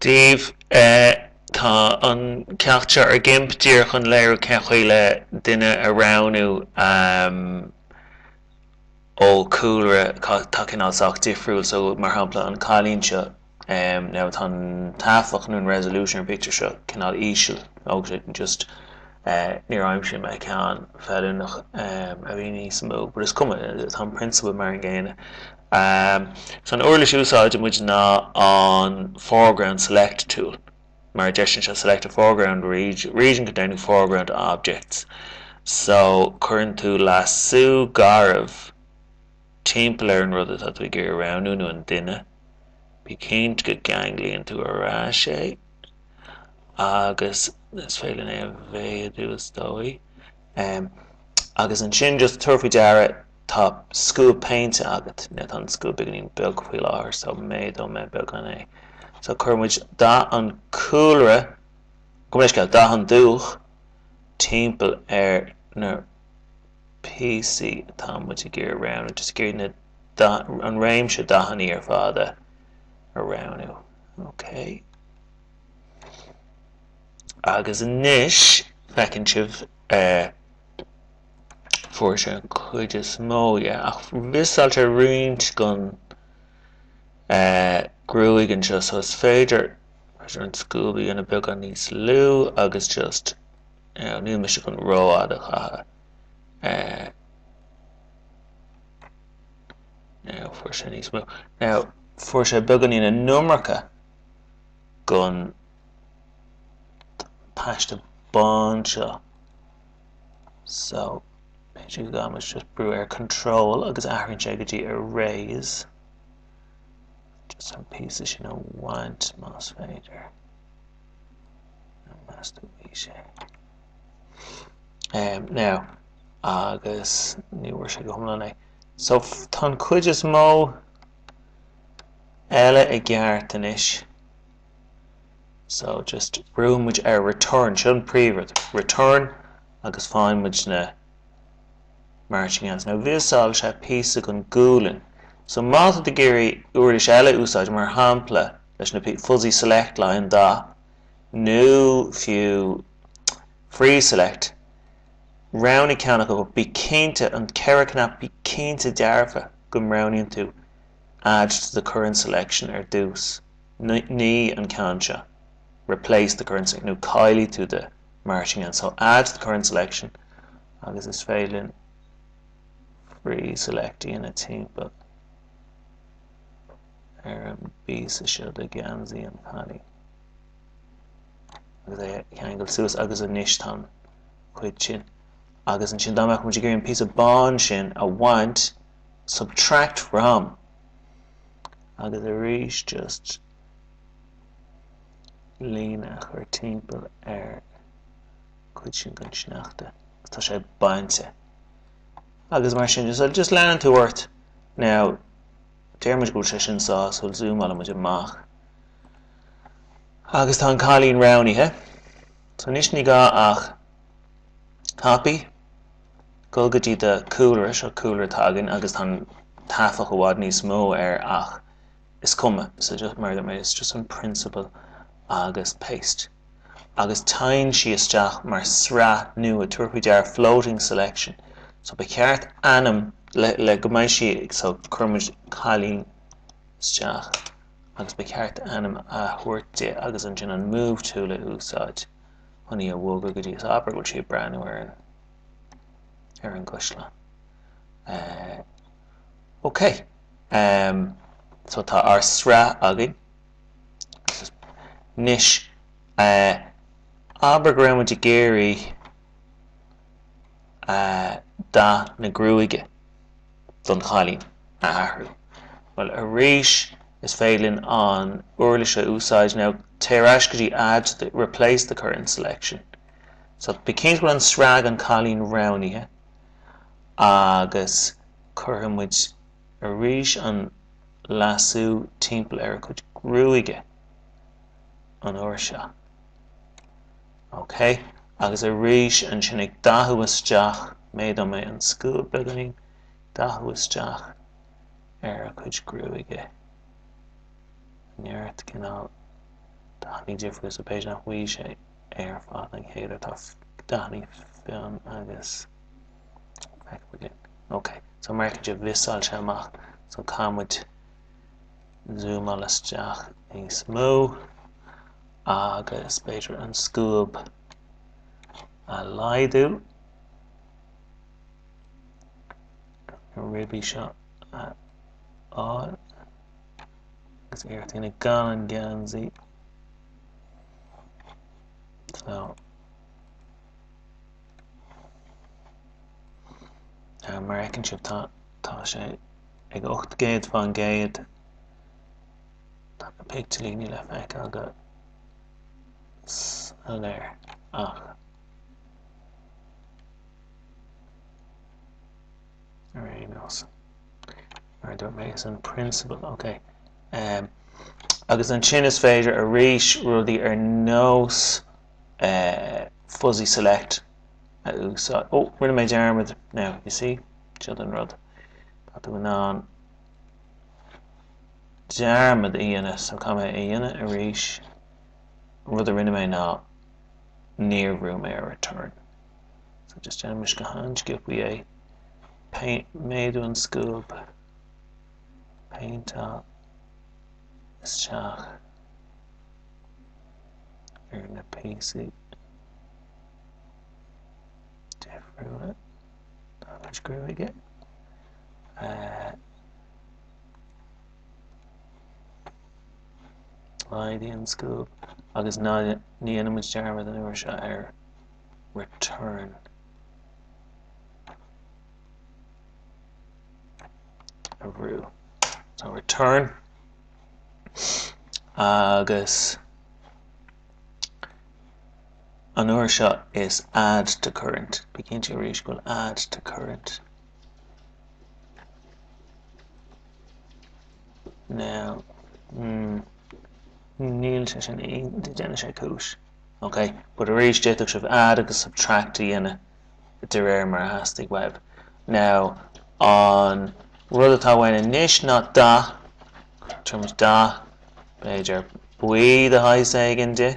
Dave, Eh tá an ceacht seo ar Gimp díreach chun léiriú cén chaoi duine a roghnú ehm ó cúlra, atá cineál sách difriúil so mar shampla an cailín seo ehm now tá an taifeach nó an resolution ar an pictiúr seo cineál íseal agus just, Níor aimsigh mé ceann feiliúnach a bhí níos mó, but is cuma, tá an prionsabal mar an gcéanna. So an uirlis a úsáideann muid ná an Foreground Select tool, mar a deireann sé select a foreground region containing foreground objects, so cuireann tú lasú garbh timpeall ar an rud atá tú ag iarraidh a roghnú nó an duine. Bí cinnte go gceanglaíonn tú ar ais é. agus is féidir linn é a mhéadú is dóigh. Agus ansin just tabhair faoi deara tá scuab péinte agat, nó tá an scuab beagáinín beag faoi láthair so méadóidh mé beagán é. So cuireann muid dath an chúlra, gabh mo leithscéal, dath an dúch timpeall ar na píosaí atá muid ag iarraidh roghnú. Just ag iarraidh na, an réimse dathanna ar fad a roghnú. Ok. Agus anois feiceann sibh eh fuair sé an cuid is mó dhe ach mhissáil sé roinnt gon eh gruaig anseo so is féidir féidir an scuab a dhéanamh beagán níos lú agus just you know níl mise chun rófhad a chaitheamh eh. Fuair sé níos mó. Now fuair sé beagáinín an iomarca gon paiste bán seo. So, is gá dom just brú ar control agus athraíonn sé go dtí erase. Just an píosa sin a bhaint más féidir. Níos mó ná bhí sé. Now, agus ní bhfuair sé go hiomlán é. So tá an chuid is mó eile i gceart anois. So just brúnn muid ar return, seo an príomhrud, return agus faigheann muid na marching ants. Now mhissáil sé píosa gon gualainn. So má tá tú ag iarraidh uirlis eile a úsáid, mar shampla leis na fuzzy select line dath nó fiú free select, Roghnaigh ceann ach go, bí cinnte, an ceithre cnap, bí cinnte dearfa go roghnaíonn tú Add to the current selection ar dtús, ní an ceann seo, Replace the current selection, nó Caillfidh tú the marching ants, so Add to the current selection agus is féidir linn Free select a, ina timpeall ar an bpíosa seo de gheansaí an chailín. agus é a cheangal suas agus anois tá an chuid sin agus ansin dá mbeadh muid ag iarraidh an píosa bán sin a bhaint subtract from agus arís just líne a chur timpeall ar an gcuid sin den sneachta tá sé bainte agus mar sin just, just leanann tú ort now déarfaimid go bhfuil sé sin sásúil zúmálann muid amach Agus tá an cailín roghnaithe. So anois ní gá ach copy, dul go dtí do cúlra, seo cúlra atá againn agus tá an taifeach i bhfad níos mó air ach is cuma, so just mar it's just an principle agus paste. Agus téann sí isteach mar sraith nua, tabhair faoi deara floating selection. So ba cheart ainm le, le go mbeidh sí so cuirfidh muid cailín isteach. agus ba cheart ainm a thabhairt di agus ansin an move tool a úsáid chun í a bhogadh go dtí is abair go bhfuil sí ag breathnú ar an ar an gcaisleán. Eh ok em so tá ár sraith againn anois eh abair go raibh muid ag iarraidh eh dath na gruaige. don chailín a athrú. Bhuel arís is féidir linn an uirlis seo a úsáid now téigh ar ais go dtí add to the, replace the current selection so bí cinnte go bhfuil an sraith an cailín roghnaithe agus cuirfidh muid arís an lasso timpeall ar a cuid gruaige an uair seo. Ok agus arís ansin ag dathú isteach méadóidh mé an scuab beagainín dathú isteach ar a cuid gruaige tá neart cineál dathanna difriúla sa page nach bhfuil sé ar fad an céanna tá dathanna fionn agus feic again ok so mar sin do mhiosáil sé amach so caithfidh muid zúmáil isteach níos mó. Agus b'fhéidir an scuab a laghdú na ribí seo a fháil agus iarracht a dhéanamh gan an geansaí. So, uh, mar a fheiceann sibh tá, tá sé ag 800 faoin gcéad Tá na picteilíní le feiceáil go soiléir ach ar aon nós, mar a dúirt mé, is an prionsabal, ok. Um, agus ansin is féidir arís rudaí ar nós uh, fuzzy select a úsáid. Ó, oh, rinne mé dearmad now, you see, seod an rud. Tá tú in ann dearmad a dhéanamh, so caithfidh mé a dhéanamh arís. An rud a rinne mé ná níor bhrúigh mé ar return. So just déanfaimid go han-sciopaí é. Paint, méadaigh an scuab, paint up isteach ar na píosaí difriúla den ghruaig. Laghdaigh an scuab agus ní dhéanfaimid dearmad an uair seo ar return a bhrú. So return agus an uair seo is add to current. Bí cinnte arís go bhfuil add to current Now, níl sé sin í. Déanann sé cúis. Ok, but arís d'fhéadfadh sibh add agus subtract a dhéanamh de réir mar a theastaíonn uaibh. Now, an rud atá uainn anois ná dath, tugaimis dath, b'fhéidir buí de shaghas éigin di,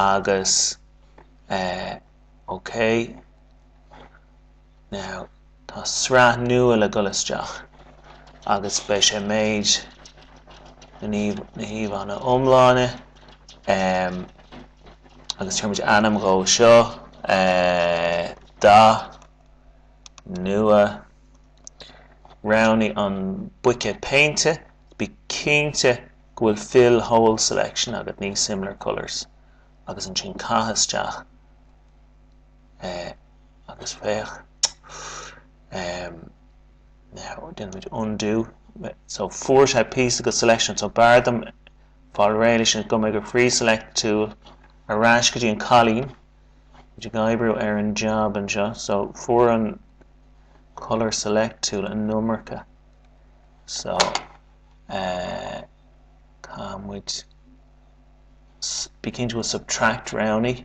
agus, eh, ok. Now, tá sraith nua le dhul isteach agus beidh sé méid na híomhá iomláine ehm agus tabharfaimid ainm dhó seo eh dath nua roghnaigh an buicéad péinte bí cinnte go bhfuil fill whole selection agat ní similar colours agus ansin caith isteach eh agus féach ehm now déanfaidh muid undo so fuair sé píosa of the selection so b'fhearr dom fáil réidh leis sin go mbeidh an free select tool ar ais go dtí an cailín a bhfuil muid ag oibriú ar an job anseo so fuair an colour select tool an iomarca so eh tá muid ag iarraidh an tool subtract roghnaigh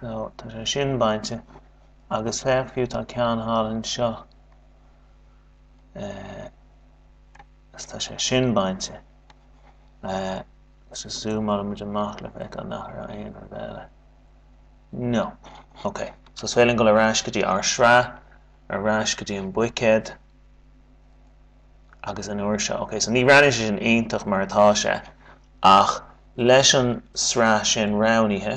So tá sé sin bainte agus féach tá ceann thall anseo agus tá sé sin bainte so zúmálfaidh muid amach le feiceáil nach raibh aon rud eile no ok so is féidir linn dul ar ais go dtí ár sraith ar ais go dtí an buicéad agus an uair seo ok so ní roghnaíonn sé sin iontach mar atá sé ach leis an sraith sin roghnaithe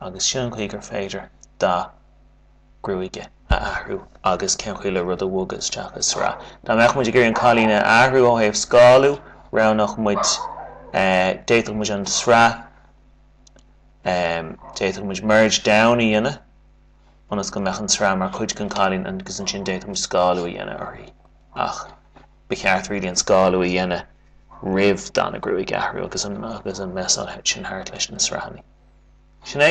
Agus sin an chaoi gur féidir dath gruaige a athrú? Agus cén chaoi le rud a bhogadh isteach i sraith? Dá mbeadh muid ag iarraidh an cailín a athrú ó thaobh scálú, roghnódh muid, d'fhéadfadh muid an sraith, d'fhéadfadh muid merge down a dhéanamh ionas go mbeadh an sraith mar chuid den cailín agus ansin d'fhéadfadh muid scálú a dhéanamh uirthi. Ach ba cheart really an scálú a dhéanamh. roimh dath na gruaige a athrú agus ag messáil thart leis na sraitheanna. Sin é!